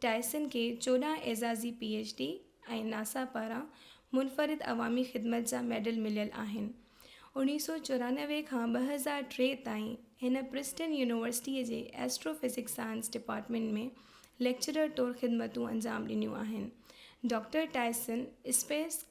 Tyson کي چوڏهن اعزازي پي ايڇ ڊي ۽ ناسا پاران منفرد عوامي خدمت جا ميڊل مليل آهن. اوڻيهه سؤ چورانوي کان ٻه هزار ٽي تائين هن پرسٽن يونيورسٽيء جي astrophysics science department ۾ lecturer طور خدمتون انجام ڏنيون آهن. ڊاڪٽر ٽائسن اسپيس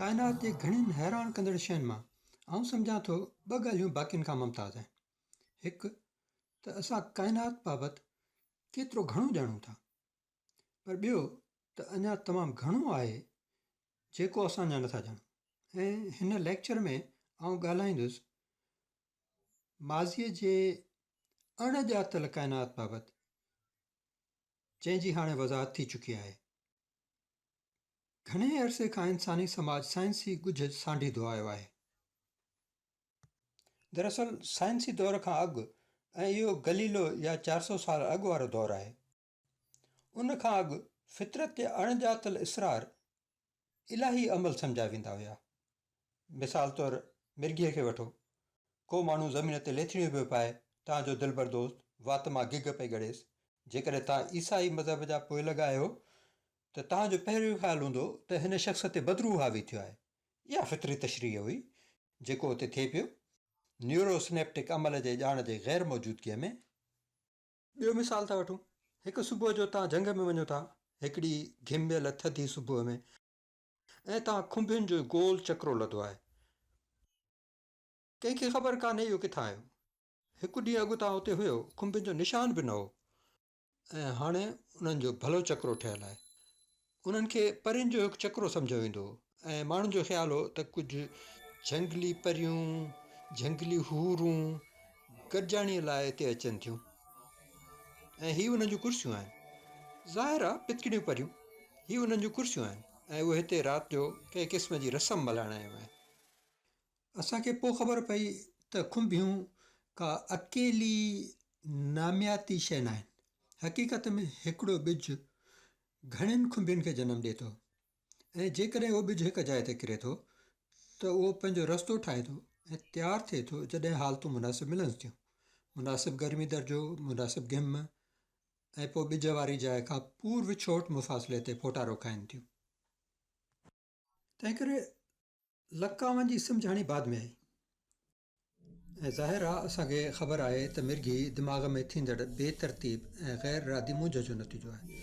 ڪائنات جي گهڻين حيران ڪندڙ شين مان آئون سمجهان ٿو ٻه ڳالهيون باقين کان ممتاز آهن. هڪ ته اسان ڪائنات بابت ڪيترو گهڻو ڄاڻون ٿا. پر ٻيو ته اڃا تمام گهڻو آهي جيڪو اسان اڃا نٿا ڄاڻون ۽ هن ليڪچر ۾ آئون ڳالهائيندس ماضيء جي اڻ ڄاتل ڪائنات بابت جنهن جي هاڻي وضاحت ٿي چڪي آهي گهڻي عرصي کان انساني سماج سائنسي ڳجهه سانڍيندو آيو آهي دراصل سائنسي دور کان اڳ ۽ اهو گليلو يا چار سؤ سال اڳ وارو دور آهي ان کان اڳ فطرت تي اڻ ڄاتل اصرار الاهي عمل سمجهيا ويندا هيا. مثال طور مرگهيء کي وٺو. ڪو ماڻهو زمين تي ليٿڙيون پيو پائي تان جو دلبر دوست وات مان گگهه پئي ڳڙيس. جيڪڏهن توهان عيسائي مذهب جا پوئلڳ آهيو ته توهان جو پهريون خيال هوندو ته هن شخص تي بدروح حاوي ٿيو آهي. اها فطري تشريح هئي جيڪو اتي ٿئي پيو نيوروسنيپٽڪ عمل جي ڄاڻ جي غير موجودگيء ۾. ٻيو مثال ٿا وٺون، هڪ صبح جو توهان جهنگ ۾ وڃو ٿا، هڪڙي گهميل ٿڌي صبح ۾، ۽ توهان کنڀين جو گول چڪرو لڌو آهي. ڪنهن کي خبر ڪانهي اهو ڪٿان آيو. هڪ ڏينهن اڳ توهان اتي هيو، کنڀين جو نشان به نه هو، ۽ هاڻي انهن جو ڀلو چڪرو ٺهيل آهي. انهن کي پرين جو هڪ چڪرو سمجهيو ويندو هو ۽ ماڻهن جو خيال هو ته ڪجهه جهنگلي پريون، جهنگلي حورون، گڏجاڻيء لاء هتي اچن ٿيون ۽ هي انهن جون ڪرسيون آهن. ظاهر آهي پتڪڙيون پريون، هي انهن جون ڪرسيون آهن ۽ اهي هتي رات جو ڪنهن قسم جي رسم ملهائڻ آيون آهن. اسان کي پوء خبر پئي ته کنڀيون ڪا اڪيلي نامياتي شيء ناهن. حقيقت ۾ هڪڙو ٻج گهڻين کنڀين کي جنم ڏئي ٿو ۽ جيڪڏهن اهو ٻج هڪ جاء تي ڪري ٿو ته اهو پنهنجو رستو ٺاهي ٿو ۽ تيار ٿئي ٿو جڏهن حالتون مناسب ملنس ٿيون، مناسب گرمي درجو، مناسب گهم ۽ پوء ٻج واري جاء کان پورو ڇوٽ مفاصلي تي ڦوٽارو کائين ٿيون. تنهنڪري لڪاون جي سمجهاڻي بعد ۾ آئي. ۽ ظاهر آ اسان کي خبر آهي ته مرگهي دماغ ۾ ٿيندڙ بي ترتيب ۽ غير ارادي مونجهه جو نتيجو آهي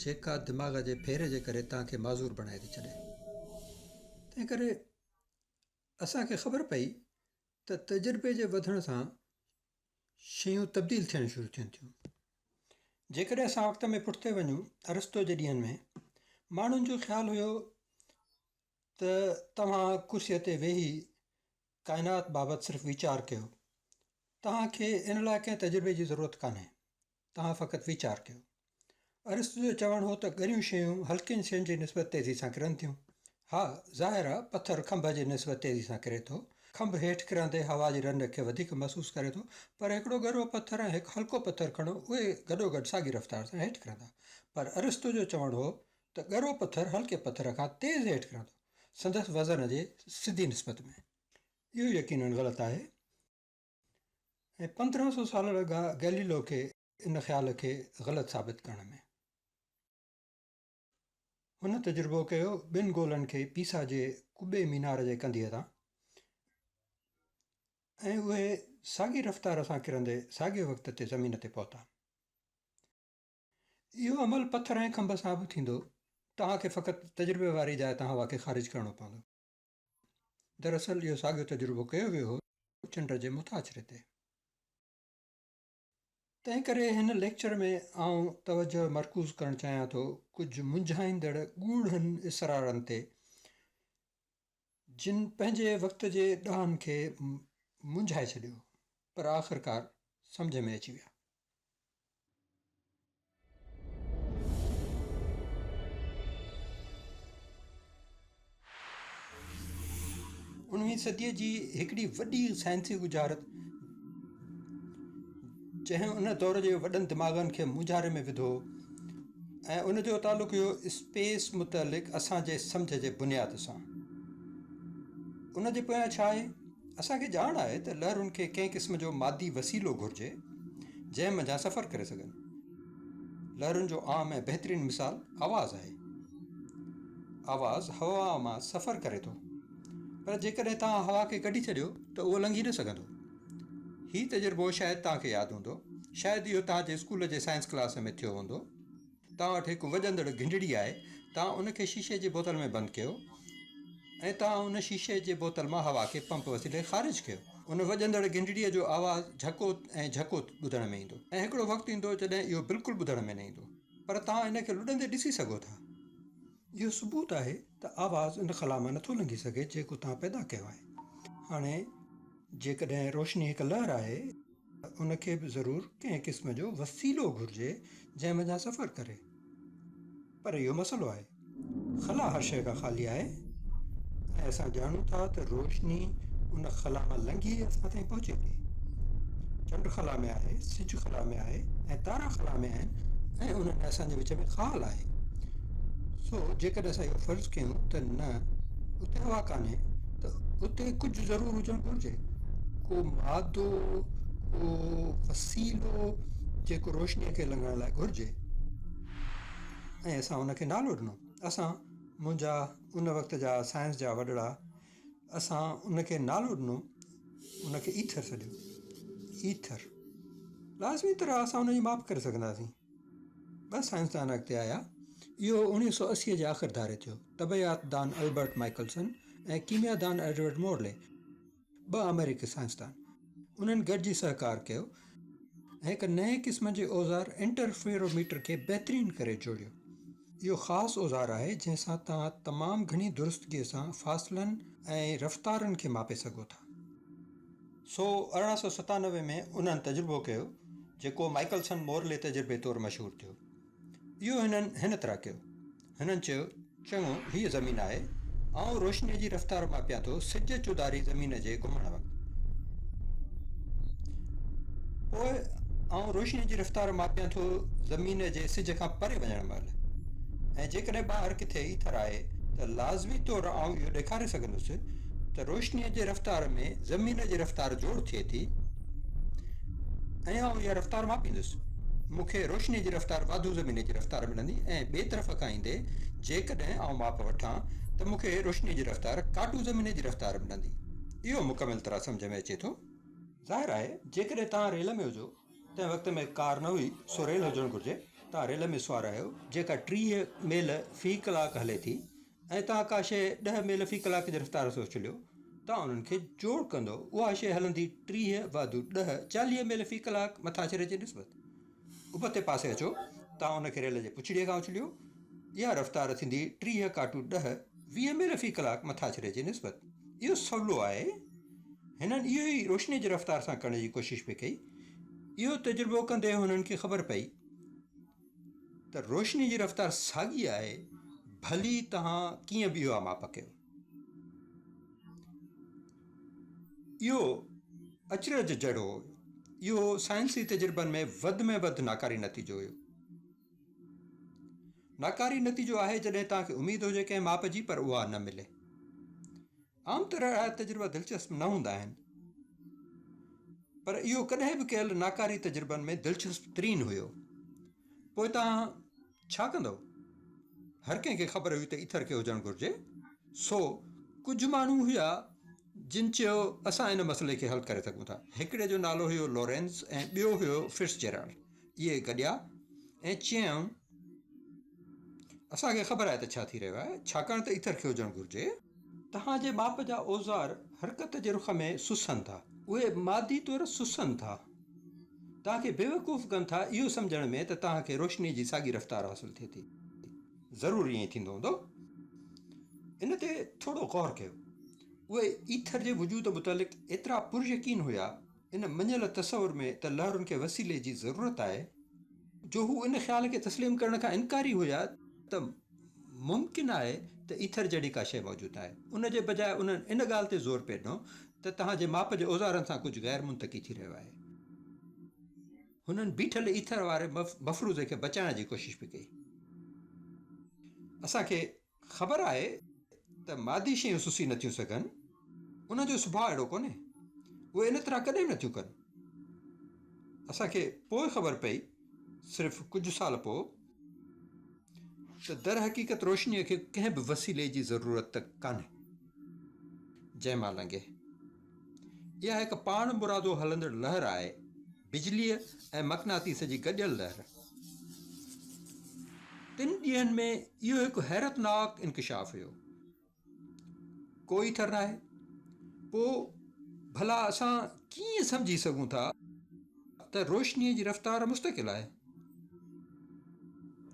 جيڪا دماغ جي ڦير جي ڪري توهان کي معذور بڻائي ٿي ڇڏي تنهن ڪري اسان کي خبر پئي ته تجربي جي وڌڻ سان شيون تبديل ٿيڻ شروع ٿين ٿيون جيڪڏهن اسان وقت ۾ پٺتي وڃون ارسطو جي ڏينهن ۾ ماڻهن جو خيال هيو ته توهان ڪرسيء تي ويهي ڪائنات بابت صرف ويچار ڪيو. توهان کي ان لاء ڪنهن تجربي جي ضرورت ڪانهي. توهان فقط ويچار ڪيو. ارسطو جو چوڻ هو ته ڳريون شيون هلڪين شين جي نسبت تيزي سان ڪرن ٿيون. ها، ظاهر آهي پٿر کنڀ جي نسبت تيزي سان ڪري ٿو. کنڀ هيٺ ڪرندي هوا جي رنڊ کي وڌيڪ محسوس ڪري ٿو. پر هڪڙو ڳرو پٿر ۽ هڪ هلڪو پٿر کڻو، اهي گڏوگڏ ساڳي رفتار سان هيٺ ڪرندا. پر ارسطو جو چوڻ هو ته ڳرو پٿر هلڪي پٿر کان تيز هيٺ ڪرندو، سندس وزن جي سڌي نسبت ۾. اهو يقيناً غلط آهي ۽ پندرهن سؤ سال لڳا گئليلو کي ان خيال کي غلط ثابت ڪرڻ ۾. هن تجربو ڪيو ٻن گولن کي پيسا جي قبي مينار جي ڪنڌيء تان ۽ اهي ساڳي رفتار سان ڪرندي ساڳي وقت تي زمين تي پهتا. اهو عمل پٿر ۽ کنڀ سان به ٿيندو. توهان کي فقط تجربي واري جاء تان هوا کي خارج ڪرڻو پوندو. دراصل اهو ساڳيو تجربو ڪيو ويو هو چنڊ جي مٿاڇري تي. تنهن ڪري هن ليڪچر ۾ آئون توجهه مرڪوز ڪرڻ چاهيان ٿو ڪجهه منجهائيندڙ ڳوڙهن اسرارن تي جن پنهنجي وقت جي ڏاهن کي منجهائي ڇڏيو پر آخرڪار سمجهه ۾ اچي ويا. انويهين صديء جي هڪڙي وڏي سائنسي ڳجهارت جنهن ان دور جي وڏن دماغن کي مونجهاري ۾ وڌو ۽ ان جو تعلق هيو اسپيس متعلق اسان جي سمجهه جي بنياد سان ان جي پويان ڇا آهي اسان کي ڄاڻ آهي ته لهرن کي ڪنهن قسم جو مادي وسيلو گهرجي جنهن منجهان سفر ڪري سگهن. لهرن جو عام ۽ بهترين مثال آواز آهي. آواز هوا مان سفر ڪري ٿو پر جيڪڏهن توهان هوا کي ڪڍي ڇڏيو ته اهو لنگهي نه سگهندو. هي تجربو شايد توهان کي ياد هوندو. شايد اهو توهان جي اسڪول جي سائنس ڪلاس ۾ ٿيو هوندو. توهان وٽ هڪ وڄندڙ گهنڊڙي آهي، توهان ان کي شيشي جي بوتل ۾ بند ڪيو ۽ توهان ان شيشي جي بوتل مان هوا کي پمپ وسيلي خارج ڪيو. ان وڄندڙ گهنڊڙي جو آواز جهڪو ۽ جهڪو ٻڌڻ ۾ ايندو ۽ هڪڙو وقت ايندو جڏهن اهو بلڪل ٻڌڻ ۾ نه ايندو پر توهان ان کي لڏندي ڏسي سگهو ٿا. اهو ثبوت آهي ته آواز ان خلا مان نٿو لنگهي سگهي جيڪو توهان پيدا ڪيو آهي. هاڻي جيڪڏهن روشني هڪ لهر آهي. ان کي به ضرور ڪنهن قسم جو وسيلو گهرجي جنهن منجهان سفر ڪري. پر اهو مسئلو آهي. خلا هر شيء کان خالي آهي ۽ اسان ڄاڻون ٿا ته روشني ان خلا مان لنگهي اسان تائين پهچي ٿي. چنڊ خلا ۾ آهي، سج خلا ۾ آهي ۽ تارا خلا ۾ آهن ۽ انهن ۽ اسان جي وچ ۾ خال آهي. سو جيڪڏهن اسان اهو فرض ڪيون ته نه اتي هوا ڪانهي ته اتي ڪجهه ضرور هجڻ گهرجي. ڪو ماد ٿو ڪو وسيلو جيڪو روشنيء کي لنگهڻ لاء گهرجي ۽ اسان ان کي نالو ڏنو اسان منهنجا ان وقت جا سائنس جا وڏڙا اسان ان کي نالو ڏنو ان کي ايٿر سڏيو ايٿر لازمي طرح اسان ان جي ماپ ڪري سگهنداسين ٻه سائنسدان اڳتي آيا اهو اڻيهه سو اسي جي آخر ڌاري ٿيو طبعيات دان البرٽ مائيڪلسن ۽ ڪيميا دان ايڊورڊ مورلي ٻه آمريڪي سائنسدان انهن گڏجي سهڪار ڪيو ۽ هڪ نئين قسم جي اوزار انٽرفيرو ميٽر کي بهترين ڪري جوڙيو. اهو خاص اوزار آهي جنهن سان توهان تمام گهڻي درستگيء سان فاصلن ۽ رفتارن کي ماپي سگهو ٿا. سو ارڙهن سؤ ستانوي ۾ انهن تجربو ڪيو جيڪو مائيڪلسن مورلي تجربي طور مشهور ٿيو. اهو هنن هن طرح ڪيو. هنن چيو، چڱو، هيء زمين آهي. آئون روشنيء جي رفتار ماپيان ٿو، سج چوڌاري زمين جي گهمڻ وقت. پوء آئون روشنيء جي رفتار ماپيان ٿو زمين جي سج کان پري وڃڻ مهل. ۽ جيڪڏهن ٻاهر ڪٿي ايٿر آهي ته لازمي طور آئون اهو ڏيکاري سگهندس ته روشنيء جي رفتار ۾ زمين جي رفتار جوڙ ٿئي ٿي، ۽ آئون اها رفتار ماپيندس. مون کي روشنيء جي رفتار واڌو زميني جي رفتار ملندي ۽ ٻئي طرف کان ايندي جيڪڏهن آئون ماپ وٺان ته مون کي روشنيء جي رفتار ڪاٽو زميني جي رفتار ملندي. اهو مڪمل طرح سمجهه ۾ اچي ٿو؟ ظاهر آهي جيڪڏهن توهان ريل ۾ هجو، تنهن وقت ۾ ڪار نه هئي سو ريل هجڻ گهرجي، توهان ريل ۾ سوار آهيو جيڪا ٽيهه ميل في ڪلاڪ هلي ٿي ۽ توهان ڪا شيء ڏهه ميل في ڪلاڪ جي رفتار سوز چليو، توهان انهن کي جوڙ ڪندؤ، اها شيء هلندي ٽيهه واڌو ڏهه، چاليهه ميل في ڪلاڪ مٿاڇري جي نسبت ابتي پاسي اچو، توهان ان کي ريل جي پڇڙيء کان اڇليو، اها رفتار ٿيندي ٽيهه ڪاٽو ڏهه، ويهه ميل في ڪلاڪ مٿاڇري جي نسبت. اهو سولو آهي. هنن اهو ئي روشنيء جي رفتار سان ڪرڻ جي ڪوشش پئي ڪئي. اهو تجربو ڪندي هنن کي خبر پئي. ته روشني جي رفتار ساڳي آهي ڀلي توهان ڪيئن به اها ماپ ڪيو. اهو اچرج جهڙو هو. اهو سائنسي تجربن ۾ وڌ ۾ وڌ ناڪاري نتيجو هيو. ناڪاري نتيجو آهي جڏهن توهان کي اميد هجي ڪنهن ماپ جي پر اها نه ملي. عام طور اهڙا تجربا دلچسپ نه هوندا آهن، پر اهو ڪڏهن به ڪيل ناڪاري تجربن ۾ دلچسپ ترين هيو. پوء توهان ڇا ڪندؤ؟ هر ڪنهن کي خبر هئي ته ايٿر کي هجڻ گهرجي، سو ڪجهه ماڻهو هيا جن چيو اسان ان مسئلي کي حل ڪري سگهون ٿا. هڪڙي جو نالو هيو لورينز ۽ ٻيو هيو فٽزجيرالڊ. اهي گڏيا ۽ چيائون. اسان کي خبر آهي ته ڇا ٿي رهيو آهي، ڇاڪاڻ ته ايٿر کي هجڻ گهرجي. توهان جي ماپ جا اوزار حرڪت جي رخ ۾ سسن ٿا. اهي مادي طور سسن ٿا. توهان کي بيوقوف ڪن ٿا اهو سمجهڻ ۾ ته توهان کي روشني جي ساڳي رفتار حاصل ٿئي ٿي. ضرور ائين ئي ٿيندو هوندو. ان تي ٿورو غور ڪيو. اهي ايٿر جي وجود متعلق ايترا پر يقين هيا. ان مڃيل تصور ۾ ته لهرن کي وسيلي جي ضرورت آهي، جو هو ان خيال کي تسليم ڪرڻ کان انڪاري هيا ته ممڪن آهي ته ايٿر جهڙي ڪا شيء موجود آهي، ان جي بجاء انهن ان ڳالهه تي زور پئي ڏنو ته توهان جي ماپ جي اوزارن سان ڪجهه غير منطقي ٿي رهيو آهي. هنن بيٺل ايٿر واري مفروضي کي بچائڻ جي ڪوشش به ڪئي. اسان کي خبر آهي ته مادي شيون سسي نه ٿيون سگهن، انهن جو سڀاء اهڙو ڪونهي، اهي ان طرح ڪڏهن به نه ٿيون ڪن. اسان کي پوء خبر پئي، صرف ڪجهه سال پوء، ته درحقيقت روشنيء کي ڪنهن به وسيلي جي ضرورت ڪانهي، جنهن مان لنگهي. اها هڪ پاڻمرادو هلندڙ لهر آهي. بجليء ۽ مقناطيس جي گڏيل لهر. تن ڏينهن ۾ اهو هڪ حيرتناڪ انڪشاف هيو. ڪو ئي ٿر ناهي. پوء ڀلا اسان ڪيئن سمجهي سگهون ٿا ته روشنيء جي رفتار مستقل آهي؟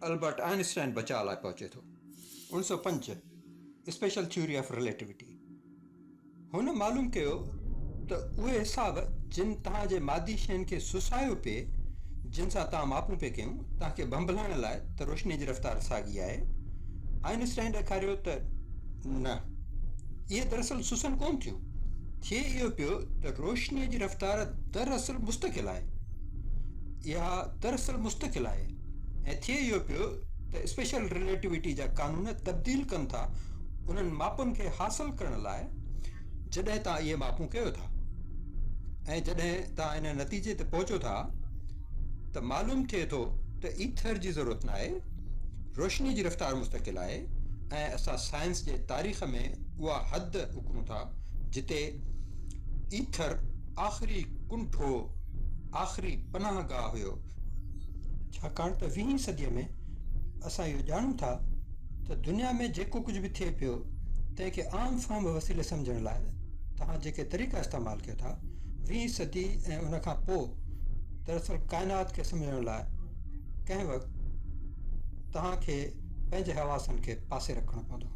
البرٽ آئنسٽائن بچاء لاء پهچي ٿو. اڻ سؤ پنج اسپيشل ٿيوري آف رليٽيوٽي. هن معلوم ڪيو ته اهي حساب جن توهان جي مادي شين کي سسايو پئي، جن سان توهان ماپون پئي ڪيون، توهان کي ڀنڀلائڻ لاء ته روشني جي رفتار ساڳي آهي. آئن اسٽائن ڏيکاريو ته نه، اهي دراصل سسن ڪون ٿيون. ٿئي اهو پيو ته روشني جي رفتار دراصل مستقل آهي. اها دراصل مستقل آهي. ۽ ٿئي اهو پيو ته اسپيشل رليٽوٽي جا قانون تبديل ڪن ٿا انهن ماپن کي حاصل ڪرڻ لاء جڏهن توهان اهي ماپون ڪيو ٿا ۽ جڏهن توهان ان نتيجي تي پهچو ٿا ته معلوم ٿئي ٿو ته ايٿر جي ضرورت ناهي روشني جي رفتار مستقل آهي ۽ اسان سائنس جي تاريخ ۾ اها حد اڪرون ٿا جتي ايٿر آخري ڪنٺو آخري پناهگاهه هيو ڇاڪاڻ ته ويهين صديء ۾ اسان اهو ڄاڻون ٿا ته دنيا ۾ جيڪو ڪجهه به ٿئي پيو تنهن کي عام فهم وسيلي سمجهڻ لاء توهان جيڪي طريقا استعمال ڪيو ٿا ويهين صدي ۽ ان کان پوء دراصل ڪائنات کي سمجهڻ لاء ڪنهن وقت توهان کي پنهنجي حواسن کي پاسي رکڻو پوندو.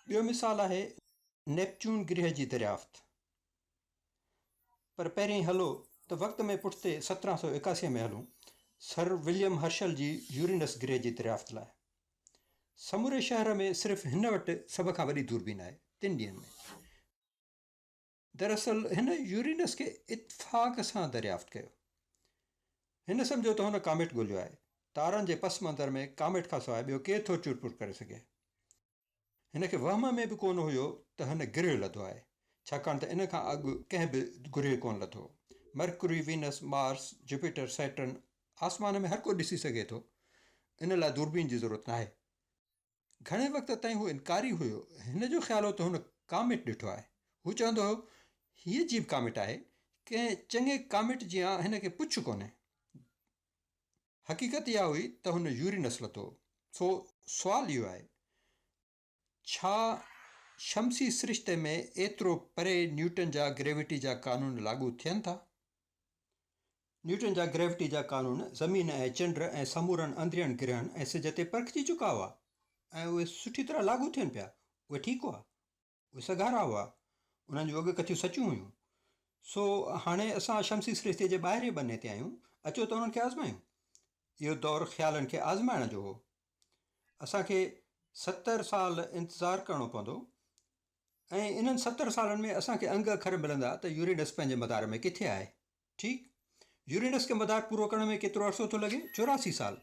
ٻيو مثال آهي. نيپچون گرهه جي دريافت پر پهرين هلو ته وقت ۾ پٺتي سترهن سؤ ايڪاسي ۾ هلون سر وليم هرشل جي يورينس گرهه جي دريافت لاء. سموري شهر ۾ صرف هن وٽ سڀ کان وڏي دوربين آهي تن ڏينهن ۾. دراصل هن يورينس کي اتفاق سان دريافت ڪيو. هن سمجهيو ته هن ڪاميٽ ڳولهيو آهي. تارن جي پس منظر ۾ ڪاميٽ کان سواء ٻيو ڪير ٿو چور پور ڪري سگهي. هن کي وهم ۾ به ڪونه هيو ته هن گرهه لڌو آهي، ڇاڪاڻ ته ان کان اڳ ڪنهن به گرهه ڪونه لڌو. Mercury, Venus, Mars, Jupiter, Saturn, آسمان ۾ هر ڪو ڏسي سگهي ٿو، ان لاء دوربين جي ضرورت ناهي. گهڻي وقت تائين هو انڪاري هيو. هن جو خيال هو ته هن ڪاميٽ ڏٺو آهي. هو چوندو هيو، هي عجيب ڪاميٽ آهي، ڪنهن چڱي ڪاميٽ جيان هن کي پڇ ڪونهي. حقيقت اها هئي ته هن يوري نسل ٿو سو سوال اهو آهي ڇا شمسي سرشتي ۾ ايترو پري نيوٽن جا گريوٽي جا قانون لاڳو ٿين ٿا؟ نيوٽن جا گريوٽي جا قانون زمين ۽ چنڊ ۽ سمورن اندرين گرهن ۽ سج تي پرکجي چڪا هئا ۽ اهي سٺي طرح لاڳو ٿين پيا اهي ٺيڪ هئا اهي سگهارا هئا، انهن جون اڳ ڪٿيون سچيون هيون. سو هاڻي اسان شمسي سرشتيء جي ٻاهرئين ٻني تي آهيون، اچو ته انهن کي آزمايون. اهو دور خيالن کي آزمائڻ جو هو. اسان کي ستر سال انتظار ڪرڻو پوندو ۽ انهن ستر سالن ۾ اسان کي انگ اکر ملندا ته يورينس پنهنجي مدار ۾ ڪٿي آهي. ٺيڪ. يورينس کي مدار پورو ڪرڻ ۾ ڪيترو عرصو ٿو لڳي؟ چوراسي سال.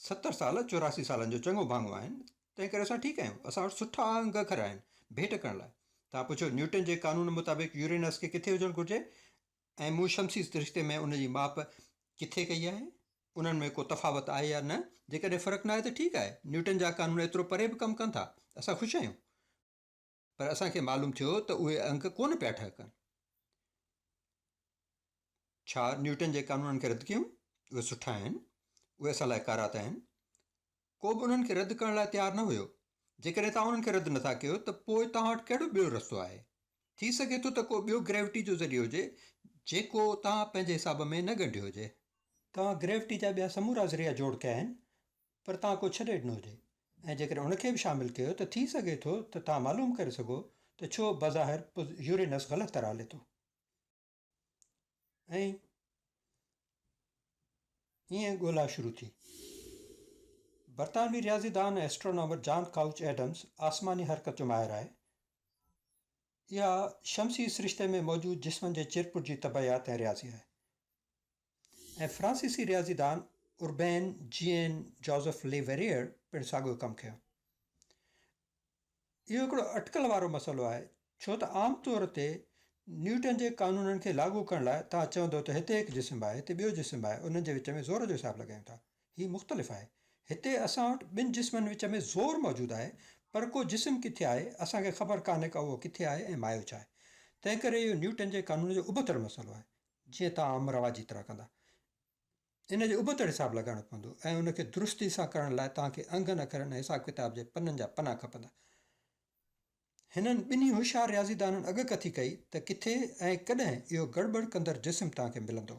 ستر سال چوراسي سالن جو چڱو ڀاڱو آهن، تنهن ڪري اسان ٺيڪ آهيون. اسان وٽ سٺا انگ گهر آهن، ڀيٽ ڪرڻ لاء. توهان پڇيو، نيوٽن جي قانون مطابق يورينس کي ڪٿي هجڻ گهرجي ۽ مون شمسي سرشتي ۾ ان جي ماپ ڪٿي ڪئي آهي؟ انهن ۾ ڪو تفاوت آهي يا نه؟ جيڪڏهن فرق ناهي ته ٺيڪ آهي. نيوٽن جا قانون ايترو پري به ڪم ڪن ٿا. اسان خوش آهيون. پر اسان کي معلوم ٿيو ته اهي انگ ڪونه پيا ٺهڪن. ڇا نيوٽن جي قانونن کي رد ڪيون؟ اهي سٺا آهن. اهي اسان لاء ڪارا ته آهن. ڪو به انهن کي رد ڪرڻ لاء تيار نه هيو. جيڪڏهن توهان انهن کي رد نه ٿا ڪيو ته پوء توهان وٽ ڪهڙو ٻيو رستو آهي؟ ٿي سگهي ٿو ته ڪو ٻيو گريوٽي جو ذريعو هجي جيڪو توهان پنهنجي حساب ۾ نه ڳنڍيو هجي. توهان گريوٽي جا ٻيا سمورا ذريعا جوڙ ڪيا آهن پر توهان ڪو ڇڏي ڏنو هجي ۽ جيڪڏهن ان کي به شامل ڪيو ته ٿي سگهي ٿو ته توهان معلوم ڪري سگهو ته ڇو بظاهر پز يورينس غلط طرح هلي ٿو ۽ ائين ڳولا شروع ٿي. برطانوي رياضي دان ۽ اسٽرونامر جان ڪائوچ ايڊمز آسماني حرڪت جو ماهر آهي. اها شمسي سرشتي ۾ موجود جسمن جي چرپٽ جي طبعيات ۽ رياضي آهي. ۽ فرانسيسي رياضيدان اوربين جيئن جوزف لي ويريئر پڻ ساڳيو ڪم ڪيو. اهو هڪڙو اٽڪل وارو مسئلو آهي، ڇو ته عام طور تي نيوٽن جي قانونن کي لاڳو ڪرڻ لاء توهان چوندو ته هتي هڪ جسم آهي، هتي ٻيو جسم آهي، انهن جي وچ ۾ زور جو حساب لڳايون ٿا. هي مختلف آهي. هتي اسان وٽ ٻن جسمن وچ ۾ زور موجود آهي، پر ڪو جسم ڪٿي آهي، اسان کي خبر ڪانهي ڪا اهو ڪٿي آهي ۽ مايو ڇا آهي. تنهنڪري اهو نيوٽن جي قانون جو ابتڙ مسئلو آهي. جيئن ته عام رواجي طرح ڪندا. ان جو ابتڙ حساب لڳائڻو پوندو ۽ ان کي درستي سان ڪرڻ لاء توهان کي انگن اکرن ۽ حساب ڪتاب جي پنن جا پنا کپندا. هنن ٻنهي هوشيار رياضيدانن اڳڪٿي ڪئي ته ڪٿي ۽ ڪڏهن اهو گڙٻڙ ڪندڙ جسم توهان کي ملندو.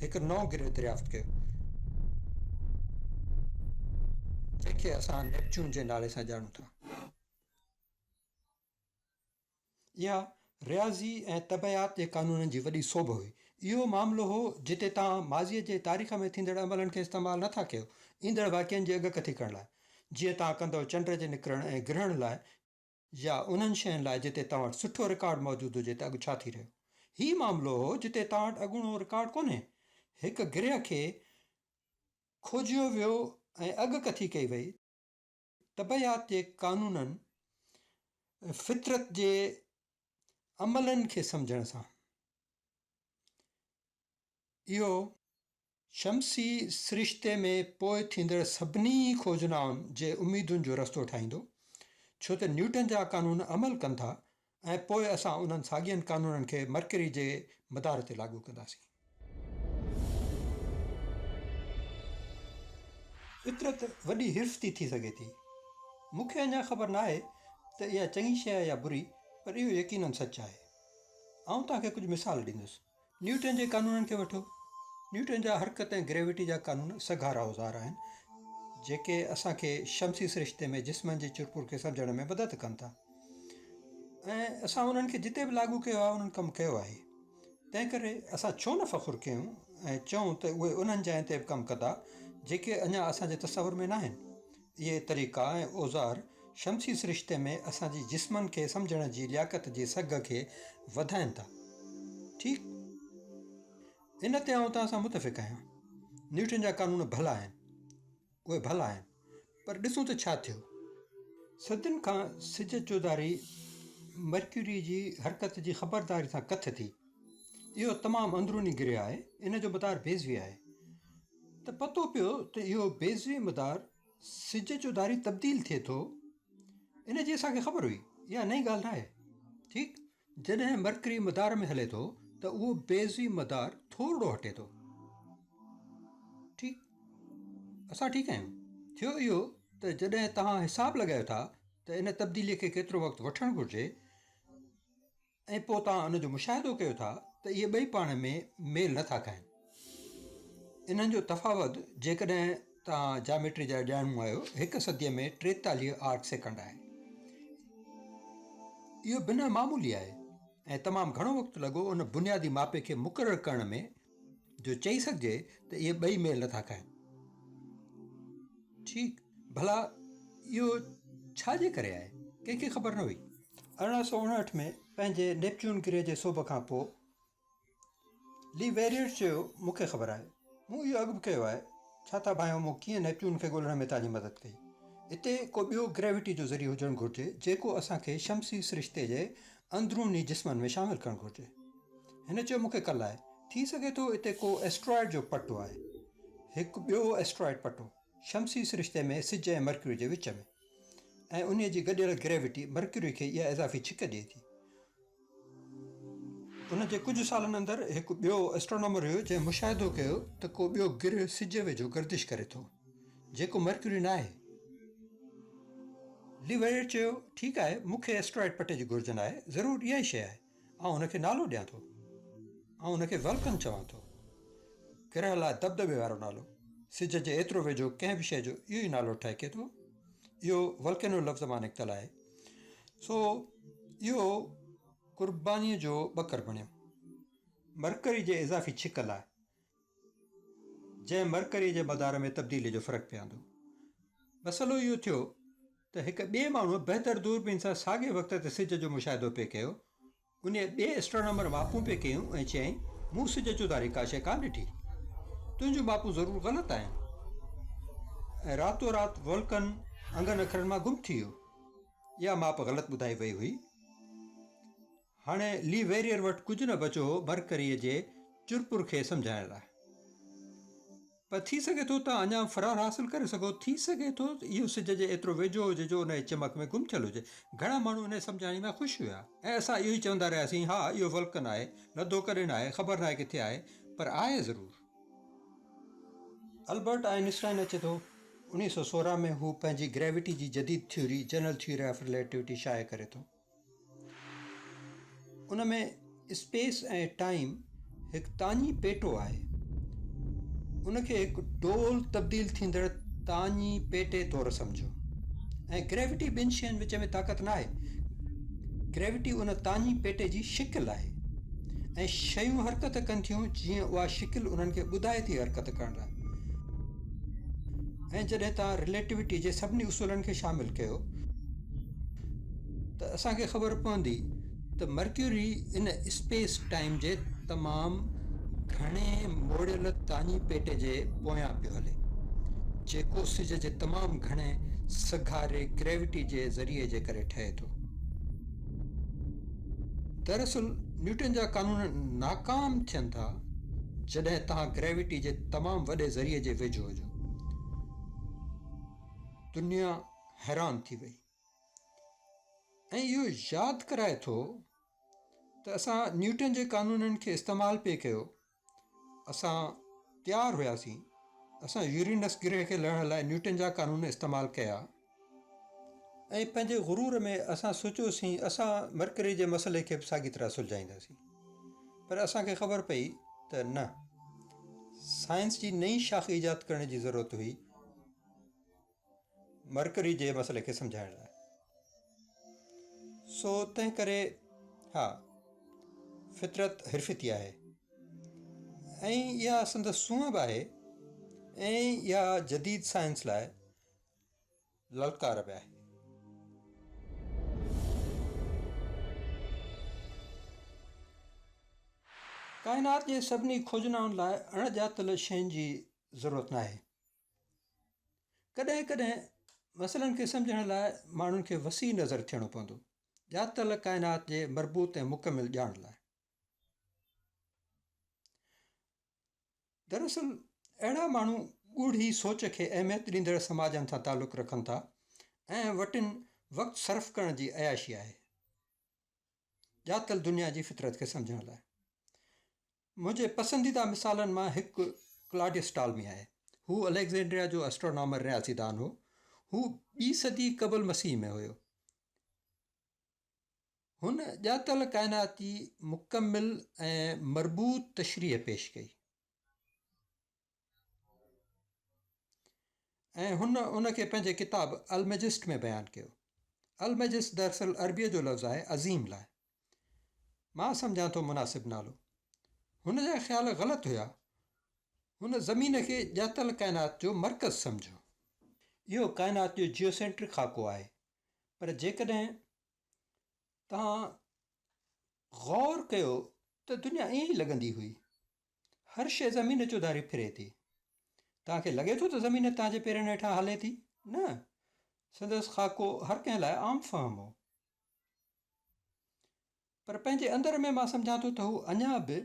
هڪ نئون گرهه دريافت ڪيو، جنهن کي اسان نيپچون جي نالي سان ڄاڻون ٿا. اها رياضي ۽ طبعيات جي قانونن جي وڏي سوڀ هئي. اهو معاملو هو، جتي توهان ماضيء جي تاريخ ۾ ٿيندڙ عملن کي استعمال نه ٿا ڪيو، ايندڙ واقعن جي اڳڪٿي ڪرڻ لاء، جيئن توهان ڪندو چنڊ جي نڪرڻ ۽ گرهڻ لاء، يا انهن شين لاء جتي توهان وٽ سٺو رڪارڊ موجود هجي ته اڳ ڇا ٿي رهيو. هي معاملو هو جتي توهان وٽ اڳوڻو رڪارڊ ڪونهي. هڪ گرهه کي کوجيو ويو ۽ اڳڪٿي ڪئي وئي. طبعيات جي قانونن، فطرت جي عملن کي سمجهڻ سان. اهو شمسي سرشتي ۾ پوء ٿيندڙ سڀني کوجنائن جي اميدن جو رستو ٺاهيندو، ڇو ته نيوٽن جا قانون عمل ڪن ٿا ۽ پوء اسان انهن ساڳين قانونن کي مرڪري جي مدار تي لاڳو ڪنداسين. فطرت وڏي حرفتي ٿي سگهي ٿي. مون کي اڃا خبر ناهي ته اها چڱي شيء آهي يا بري، پر اهو يقيناً سچ آهي. آئون توهان کي ڪجهه مثال ڏيندس. نيوٽن جي قانونن کي وٺو. نيوٽن جا حرڪت ۽ گريويٽي جا قانون سگهارا اوزار آهن، جيڪي اسان کي شمسي سرشتي ۾ جسمن جي چرپور کي سمجهڻ ۾ مدد ڪن ٿا ۽ اسان انهن کي جتي به لاڳو ڪيو آهي، انهن ڪم ڪيو آهي. تنهن ڪري اسان ڇو نه فخر ڪيون ۽ چئون ته اهي انهن جاين تي به ڪم ڪندا، جيڪي اڃا اسان جي تصور ۾ ناهن. اهي طريقا ۽ اوزار شمسي سرشتي ۾ اسان جي جسمن کي سمجهڻ جي لياقت جي سگهه کي وڌائين ٿا. ٺيڪ؟ ان تي آئون توهان سان متفق آهيان. نيوٽن جا قانون ڀلا آهن. اهي ڀلا آهن. پر ڏسون ته ڇا ٿيو. صدين کان سج چوڌاري مرڪيوري جي حرڪت جي خبرداري سان ڪٿ ٿي. اهو تمام اندروني گرهه آهي. ان جو مدار بيضوي آهي. ته پتو پيو ته اهو بيضوي مدار سج جو ڌاري تبديل ٿئي ٿو، ان جي اسان کي خبر هئي، اها نئين ڳالهه ناهي. ٺيڪ جڏهن مرڪري مدار ۾ هلي ٿو ته اهو بيضوي مدار ٿورڙو هٽي ٿو. ٺيڪ اسان ٺيڪ آهيون. ٿيو اهو ته جڏهن توهان حساب لڳايو ٿا ته ان تبديلي کي ڪيترو وقت وٺڻ گهرجي ۽ پوء توهان ان جو مشاهدو ڪيو ٿا ته اهي ٻئي پاڻ ۾ ميل نه ٿا کائين. انهن جو تفاوت جيڪڏهن توهان جاميٽري جا ڄاڻو آهيو هڪ صديء ۾ ٽيتاليهه آرڪ سيڪنڊ آهي. اهو بنهه معمولي آهي ۽ تمام گهڻو وقت لڳو ان بنيادي ماپي کي مقرر ڪرڻ ۾، جو چئي سگهجي ته اهي ٻئي ميل نٿا کائن. ٺيڪ، ڀلا اهو ڇا جي ڪري آهي؟ ڪنهن کي خبر نه هئي. ارڙهن سؤ اڻهٺ ۾ پنهنجي نيپچون گرهه جي سوڀ کان پوء لي ويريئر چيو، مون کي خبر آهي. مون اهو اڳ به ڪيو آهي. ڇا ٿا ڀانئيو مون ڪيئن نيپچون کي ڳولڻ ۾ توهان جي مدد ڪئي؟ اتي ڪو ٻيو گريويٽي جو ذريعو هجڻ گهرجي جيڪو اسان کي شمسي سرشتي جي اندروني جسمن ۾ شامل ڪرڻ گهرجي. هن چيو، مون کي ڪل آهي. ٿي سگهي ٿو اتي ڪو ائسٽرائڊ جو پٽو آهي. هڪ ٻيو ائسٽرائڊ پٽو، شمسي سرشتي ۾ سج ۽ مرڪيوري جي وچ ۾. ۽ انهيء جي گڏيل گريوٽي مرڪيوري کي اها اضافي ڇڪ ڏئي ٿي. ان جي ڪجهه سالن اندر هڪ ٻيو ائسٽرانومر هيو جنهن مشاهدو ڪيو ته ڪو ٻيو گرهه سج ويجهو گردش ڪري ٿو، جيڪو مرڪيوري ناهي. لي ويريٽ چيو، ٺيڪ آهي، مون کي ائسٽرائڊ پٽي جي گهرج ناهي. ضرور اها ئي شيء آهي. آئون هن کي نالو ڏيان ٿو. آئون هن کي ولڪن چوان ٿو. گرهه لاء دٻدٻي وارو نالو. سج جي ايترو ويجهو ڪنهن به شيء جو اهو ئي نالو ٺهڪي ٿو. اهو ولڪينو لفظ مان نڪتل آهي. سو اهو قربانيء جو ٻڪر بڻيو. مرڪري جي اضافي ڇڪ لاء، جنهن مرڪريء جي مدار ۾ تبديليء جو فرق پياندو. مسئلو اهو ٿيو ته هڪ ٻئي ماڻهوء بهتر دوربين سان ساڳئي وقت تي سج جو مشاهدو پئي ڪيو. انهيء ٻئي اسٽرانامر ماپون پئي ڪيون ۽ چيائين، مون سج چوڌاري ڪا شيء ڪانه ڏٺي. تنهنجون ماپون ضرور غلط آهن. ۽ راتو رات ولڪن انگن اکرن مان گم ٿي ويو. اها ماپ غلط ٻڌائي وئي هئي. هاڻي لي ويريئر وٽ ڪجهه نه بچو هو مرڪريء جي چرپر کي سمجهائڻ لاء. پر ٿي سگهي ٿو ته اڃا فرار حاصل ڪري سگهو. ٿي سگهي ٿو اهو سج جي ايترو ويجهو هجي جو انهيء چمڪ ۾ گم ٿيل هجي. گهڻا ماڻهو انهيء سمجهاڻيء مان خوش هيا ۽ اسان اهو ئي چوندا رهياسين، ها، اهو ولڪن آهي. لڌو ڪڏهن نه آهي. خبر نه آهي ڪٿي آهي. پر آهي ضرور. البرٽ آئن اسٽائن اچي ٿو. اڻيهه سؤ سورهن ۾ هو پنهنجي گريويٽي جي جديد theory, general theory of relativity, شايع ڪري ٿو. ان ۾ اسپيس ۽ ٽائيم هڪ تاڃي پيٽو آهي ان کي هڪ ڊول تبديل ٿيندڙ تاڃي پيٽي طور سمجهيو ۽ گريوٽي ٻن شين وچ ۾ طاقت ناهي گريوٽي ان تاڃي پيٽي جي شڪل آهي ۽ شيون حرڪت ڪن ٿيون جيئن اها شڪل انهن کي ٻڌائي ٿي حرڪت ڪرڻ لاءِ ۽ جڏهن توهان رليٽوٽي جي سڀني اصولن کي شامل ڪيو ته اسان کي خبر پوندي ته مرڪيوري ان اسپيس ٽائيم جي تمام گهڻي موڙيل تاڃي پيٽي جي پويان پيو هلي جيڪو سج جي تمام گهڻي سگهاري گريوٽي جي ذريعي جي ڪري ٺهي ٿو دراصل نيوٽن جا قانون ناڪام ٿين ٿا جڏهن توهان گريوٽي جي تمام وڏي ذريعي جي ويجهو هجو دنيا حيران ٿي وئي ۽ اهو ياد ڪرائي ٿو ته اسان نيوٽن جي قانونن کي استعمال پئي ڪيو اسان تيار هياسين اسان يورينس گرهه کي لهڻ لاء نيوٽن جا قانون استعمال ڪيا ۽ پنهنجي غرور ۾ اسان سوچيوسين اسان مرڪري جي مسئلي کي به ساڳي طرح سلجهائينداسين پر اسانکي خبر پئي ته نه سائنس جي نئين شاخ ايجاد ڪرڻ جي ضرورت هئي مرڪري جي مسئلي کي سمجهائڻ لاء. سو تنهن ڪري ها فطرت حرفتي آهي ۽ اها سندس سونهن به آهي ۽ اها جديد سائنس لاء للڪار به آهي. ڪائنات جي سڀني کوجنائن لاء اڻ ڄاتل شين جي ضرورت ناهي. ڪڏهن ڪڏهن مسئلن کي سمجهڻ لاء ماڻهن کي وسيع نظر ٿيڻو پوندو، ڄاتل ڪائنات جي مربوط ۽ مڪمل ڄاڻ لاء. دراصل اهڙا ماڻهو ڳوڙهي سوچ کي اهميت ڏيندڙ سماجن سان تعلق رکن ٿا ۽ وٽن وقت صرف ڪرڻ جي عياشي آهي ڄاتل دنيا جي فطرت کي سمجهڻ لاء منهنجي پسنديده مثالن مان هڪ ڪلاڊيس ٽالمي آهي. هو اليگزينڊريا جو اسٽرونامر، رياضي دان، هو. هو ٻي صدي قبل مسيح ۾ هيو. هن ڄاتل ڪائنات جي مڪمل ۽ مربوط تشريح پيش ڪئي. ۽ هن ان کي پنهنجي ڪتاب المجسٽ ۾ بيان ڪيو. المجسٽ دراصل عربيء جو لفظ آهي عظيم لاء. مان سمجهان ٿو مناسب نالو. هن جا خيال غلط هيا. هن زمين کي ڄاتل ڪائنات جو مرڪز سمجهيو. اهو ڪائنات جو جيوسينٽرڪ خاڪو آهي. پر جيڪڏهن توهان غور ڪيو ته دنيا ائين ئي لڳندي هئي. هر شيء زمين چوڌاري ڦري ٿي. توهان کي لڳي ٿو ته زمين توهان جي پيرن هيٺان هلي ٿي؟ نه. سندس خاڪو هر ڪنهن لاء عام فهم هو. پر پنهنجي اندر ۾ مان سمجهان ٿو ته هو اڃا به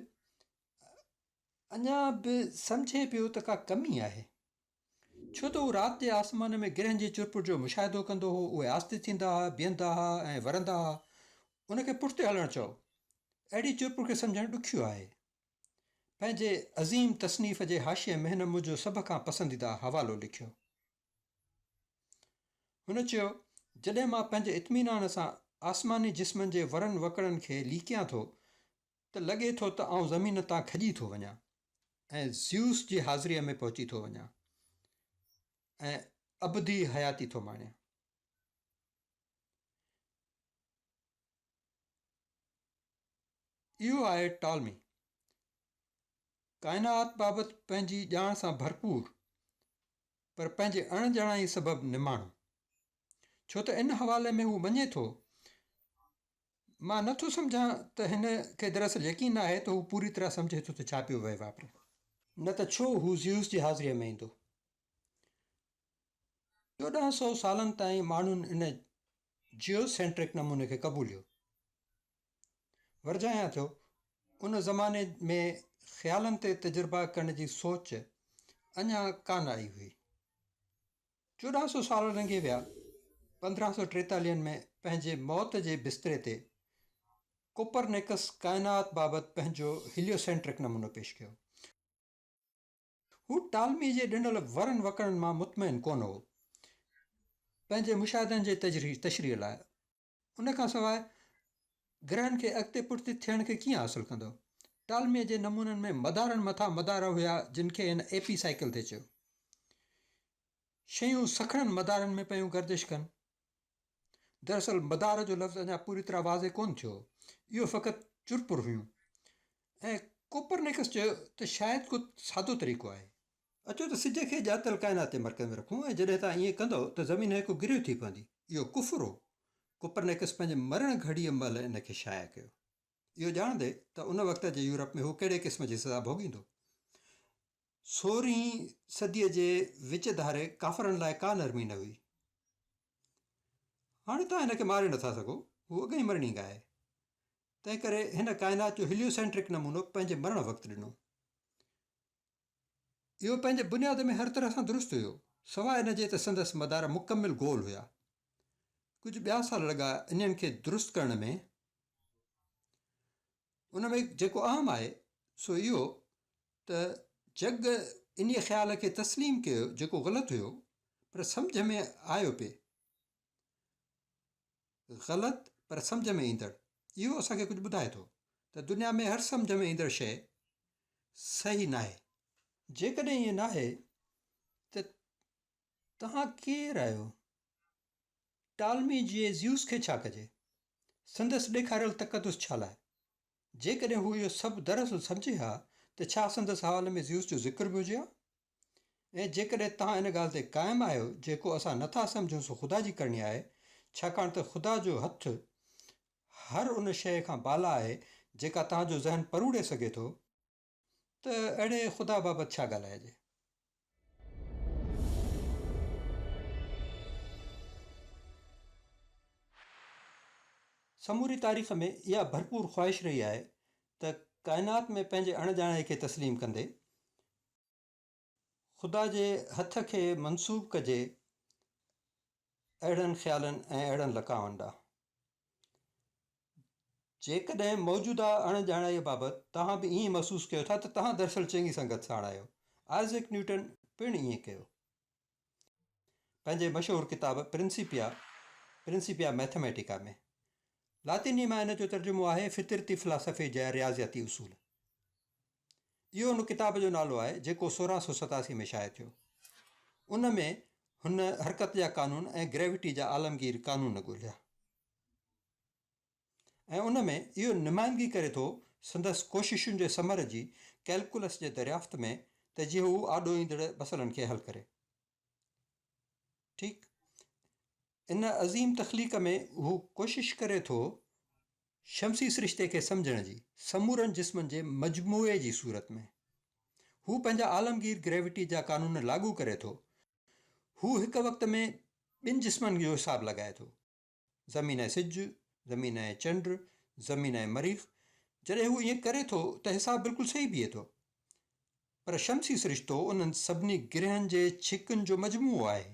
اڃا به سمجهي پيو ته ڪا ڪمي آهي. ڇو ته هو رات جي آسمان ۾ گرهن جي چرپر جو مشاهدو ڪندو هو، اهي آهستي ٿيندا ها، بيهندا ها ۽ ورندا ها. ان کي پٺتي هلڻ چئو. اهڙي چرپر کي سمجهڻ ڏکيو آهي. پنهنجي عظيم تصنيف جي حاشيي ۾ هن منهنجو سڀ کان پسنديده حوالو لکيو. هن چيو، جڏهن مان پنهنجي اطمينان سان آسماني جسمن جي ورن وڪڙن کي ليڪيان ٿو ته لڳي ٿو ته آئون زمين تان کڄي ٿو وڃان ۽ زيوس جي حاضريء ۾ پهچي ٿو وڃان ۽ ابدي حياتي ٿو ماڻيان. اهو آهي ٽالمي. ڪائنات بابت پنهنجي ڄاڻ سان ڀرپور پر پنهنجي اڻ ڄاڻائي سبب نماڻو. ڇو ته ان حوالي ۾ هو مڃي ٿو مان نه ٿو سمجهان ته هن کي دراصل يقين نه آهي ته هو پوري طرح سمجهي ٿو ته ڇا پيو وهي واپري. نه ته ڇو هو زيوس جي حاضريء ۾ ايندو؟ چوڏهن سؤ سالن تائين ماڻهن ان جيوسينٽرڪ نموني کي قبوليو. ورجايان ٿيو، ان زماني ۾ خيالن تي تجربا ڪرڻ جي سوچ اڃا ڪانه آئي هئي. چوڏهن سو سال لنگهي ويا، پندرهن سو ٽيتاليهن ۾ پنهنجي موت جي بستري تي ڪوپرنيڪس ڪائنات بابت پنهنجو هيليوسينٽرڪ نمونو پيش ڪيو. هو ٽالمي جي ڏنل ورن وڪڻن مان مطمئن ڪونه هو، پنهنجي مشاهدن جي تشريح لاء ان کان سواء گرهن کي اڳتي پٺتي ٿيڻ کي ڪيئن حاصل ڪندو؟ ٽالميء جي نمونن ۾ مدارن مٿان مدار هيا جن کي هن ايپي سائيڪل تي چيو. شيون سکڻن مدارن ۾ پيون گردش ڪن. دراصل مدار جو لفظ اڃا پوري طرح واضح ڪونه ٿيو هو. اهو فقط چرپر هيون ۽ ڪوپرنيڪس چيو ته شايد ڪو سادو طريقو آهي. اچو ته سج کي ڄاتل ڪائنات جي مرڪز ۾ رکون ۽ جڏهن توهان ائين ڪندؤ ته زمين هڪ گريو ٿي پوندي. اهو ڪفر هو. ڪپرنيڪس پنهنجي مرڻ گهڙيء مهل ان کي شايع ڪيو. اهو ڄاڻندي ته ان وقت جي يورپ ۾ هو ڪهڙي قسم جي سزا ڀوڳيندو. سورهين صديء جي وچ ڌاري ڪافرن لاء ڪا نرمي نه هئي. هاڻي توهان هن کي ماري نٿا سگهو. هو اڳئين مرڻينگ آهي. تنهنڪري هن ڪائنات جو هيليوسينٽرڪ نمونو پنهنجي مرڻ وقت ڏنو. اهو پنهنجي بنياد ۾ هر طرح سان درست هيو، سواء ان جي ته سندس مدار مڪمل گول هيا. ڪجهه ٻيا سال لڳا انهن کي درست ڪرڻ ۾. ان ۾ جيڪو اهم آهي سو اهو ته جڳ انهيء خيال کي تسليم ڪيو جيڪو غلط هيو پر سمجهه ۾ آيو پئي. غلط پر سمجهه ۾ ايندڙ اهو اسان کي ڪجهه ٻڌائي ٿو ته دنيا ۾ هر سمجهه ۾ ايندڙ شيء صحيح ناهي. جيڪڏهن ائين ناهي ته توهان ڪير آهيو؟ ٽالمي جي زيوس کي ڇا ڪجي؟ سندس ڏيکاريل تقدس ڇا لاء؟ جيڪڏهن هو اهو سڀ دراصل سمجهي ها ته ڇا سندس حوالي ۾ زيوس جو ذڪر به هجي ها؟ ۽ جيڪڏهن توهان ان ڳالهه تي قائم آهيو جيڪو اسان نه ٿا سمجهون سو خدا جي ڪرڻي آهي، ڇاڪاڻ ته خدا جو هٿ هر ان شيء کان بالا آهي جيڪا توهان جو ذهن پروڙي سگهي ٿو، ته اهڙي خدا بابت ڇا ڳالهائجي؟ سموري تاريخ ۾ اها ڀرپور خواهش رهي آهي ته ڪائنات ۾ پنهنجي اڻڄاڻائي کي تسليم ڪندي خدا جي هٿ کي منسوب ڪجي اهڙن خيالن ۽ اهڙن لقائن ڏانهن. جيڪڏهن موجوده اڻ ڄاڻائيء بابت توهان به ائين محسوس ڪيو ٿا ته توهان دراصل چڱي سنگت ساڻ آهيو. آئزڪ نيوٽن پڻ ائين ڪيو. پنهنجي مشهور ڪتاب پرنسيپيا Principia Mathematica ۾ لاطيني مان ان جو ترجمو آهي فطرتي فلاسافي جا رياضياتي اصول. اهو ان ڪتاب جو نالو آهي جيڪو سورهن سؤ ستاسي ۾ شايع ٿيو. ان ۾ هن حرڪت جا قانون ۽ گريوٽي جا عالمگير قانون ڳوليا. ۽ ان ۾ اهو نمائندگي ڪري ٿو سندس ڪوششن جي ثمر جي ڪئلڪولس جي دريافت ۾ ته جيئن هو آڏو ايندڙ مسئلن کي حل ڪري. ٺيڪ ان عظيم تخليق ۾ هو ڪوشش ڪري ٿو شمسي سرشتي کي سمجهڻ جي سمورن جسمن جي مجموعي جي صورت ۾. هو پنهنجا عالمگير گريويٽي جا قانون لاڳو ڪري ٿو. هو هڪ وقت ۾ ٻن جسمن جو حساب لڳائي ٿو. زمين ۽ سج، زمين ۽ چنڊ، زمين ۽ مريخ، جڏهن هو ائين ڪري ٿو ته حساب بلڪل صحيح بيهي ٿو. پر شمسي سرشتو انهن سڀني گرهن جي ڇڪن جو مجموعو آهي.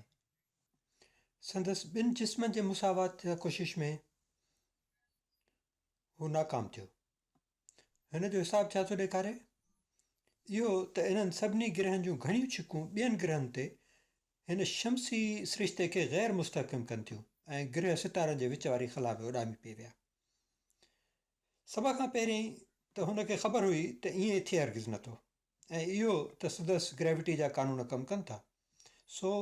سندس ٻن جسمن جي مساوات جي ڪوشش ۾ هو ناڪام ٿيو. هن جو حساب ڇا ٿو ڏيکاري؟ اهو ته انهن سڀني گرهن جون گهڻيون ڇڪون ٻين گرهن تي هن شمسي سرشتي کي غير مستحڪم ڪن ٿيون ۽ گرهه ستارن جي وچ واري خلا ۾ اڏامي پئي ويا. سڀ کان پهرين ته هن کي خبر هئي ته ائين ٿئي هرگز نه ٿو ۽ اهو ته سڌس گريوٽي جا قانون ڪم ڪن ٿا. سو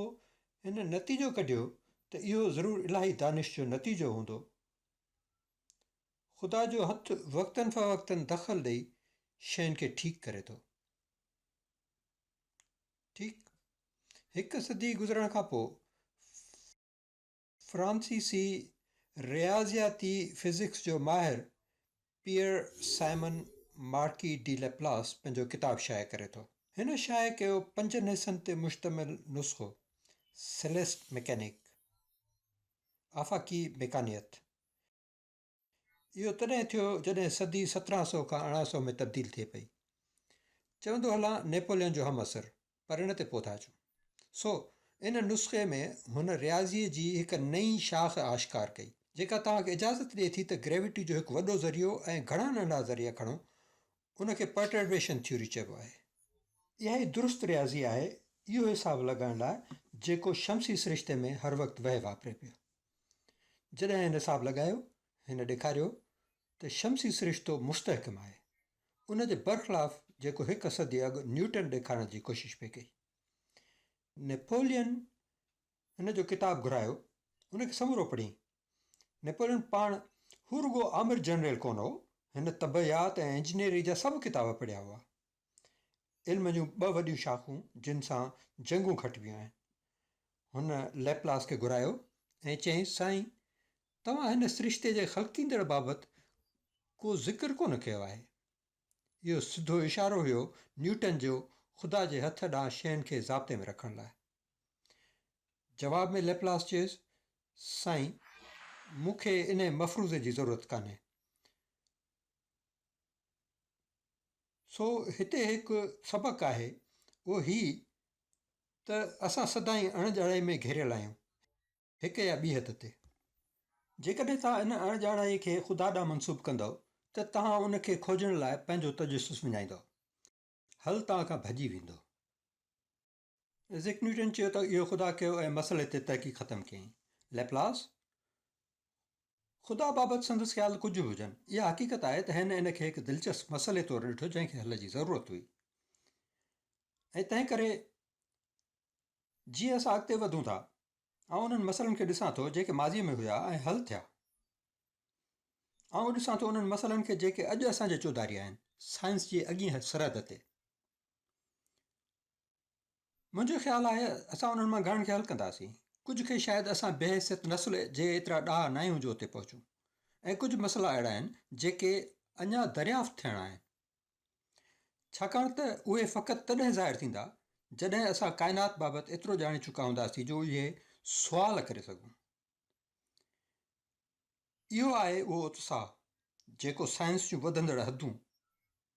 هن نتيجو ڪڍيو ته اهو ضرور الاهي دانش جو نتيجو هوندو. خدا جو هٿ وقتن فوقتن دخل ڏئي شين کي ٺيڪ ڪري ٿو. ٺيڪ هڪ صدي گذرڻ کان پوء فرانسيسي رياضياتي فزڪس جو ماهر Pierre Simon Marquis de Laplace پنهنجو ڪتاب شايع ڪري ٿو. هن شايع ڪيو پنجن حصن تي مشتمل نسخو سيليسٽ ميڪانيڪ، آفاقي ميڪانيات، اهو تڏهن ٿيو جڏهن صدي سترهن سؤ کان ارڙهن سؤ ۾ تبديل ٿئي پئي. چوندو هلان نيپولين جو همعصر پر ان تي پوٿا اچون. سو ان نسخي ۾ هن رياضيء جي هڪ نئين شاخ آشڪار ڪئي. جيڪا توهان کي اجازت ڏئي ٿي ته گريويٽي جو هڪ وڏو ذريعو ۽ گهڻا ننڍا ذريعا کڻو. ان کي پرٽربيشن ٿيوري چئبو آهي. اها ئي درست رياضي آهي اهو حساب لڳائڻ لاء جيڪو شمسي سرشتي ۾ هر وقت وهه واپري پيو. جڏهن هن حساب لڳايو، هن ڏيکاريو ته شمسي سرشتو مستحڪم آهي. ان جي برخلاف جيڪو هڪ صدي اڳ نيوٽن ڏيکارڻ جي ڪوشش پئي ڪئي. نيپولين هن جو ڪتاب گهرايو، ان کي سمورو پڙهين. نيپولين پاڻ هو رڳو آمر جنرل ڪونه هو، هن طبعيات ۽ انجنيئري جا سڀ ڪتاب پڙهيا هئا. علم جون ٻه وڏيون شاخون جن سان جنگون کٽبيون آهن. هن لئپلاس کي گهرايو ۽ چيائينس، سائين! توهان هن سرشتي جي خلقيندڙ بابت ڪو ذڪر ڪونه ڪيو آهي. اهو سڌو اشارو هيو نيوٽن جو خدا جي هٿ ڏانهن شين کي ضابطي ۾ رکڻ لاء. جواب ۾ لئپلاس چيس، سائين! مون کي انهيء مفروضي جي ضرورت ڪانهي. سو هتي هڪ سبق آهي اهو هي ته اسان سدائين اڻ ڄاڻائي ۾ گهيريل آهيون هڪ يا ٻي حد تي. جيڪڏهن توهان ان اڻ ڄاڻائي کي خدا ڏانهن منسوب ڪندؤ ته توهان ان کي کوجڻ لاء پنهنجو تجسس وڃائيندؤ. حل توهان کان ڀڄي ويندو. ائزڪ نيوٽن چيو ته اهو خدا ڪيو ۽ مسئلي تي تحقيق ختم ڪيائين. ليپلاس خدا بابت سندس خيال ڪجهه به هجن، اها حقيقت آهي ته هن ان کي هڪ دلچسپ مسئلي طور ڏٺو جنهن کي حل جي ضرورت هئي ۽ تنهن ڪري جيئن اسان اڳتي وڌون ٿا، آئون انهن مسئلن کي ڏسان ٿو جيڪي ماضيء ۾ هيا ۽ حل ٿيا. آئون ڏسان ٿو انهن مسئلن کي جيڪي اڄ اسان جي چوڌاري آهن، سائنس جي اڳين سرحد تي. منهنجو خيال آهي اسان انهن مان گهڻن کي حل ڪنداسين. ڪجهه کي شايد اسان بحيثيت نسل جي ايترا ڏاها ناهيون جو اتي پهچون ۽ ڪجهه مسئلا اهڙا آهن جيڪي اڃا دريافت ٿيڻا آهن ڇاڪاڻ ته اهي فقط تڏهن ظاهر ٿيندا جڏهن اسان ڪائنات بابت ايترو ڄاڻي چڪا هونداسين جو اهي سوال ڪري سگهون. اهو آهي اهو اتساهه جيڪو سائنس جون وڌندڙ حدون.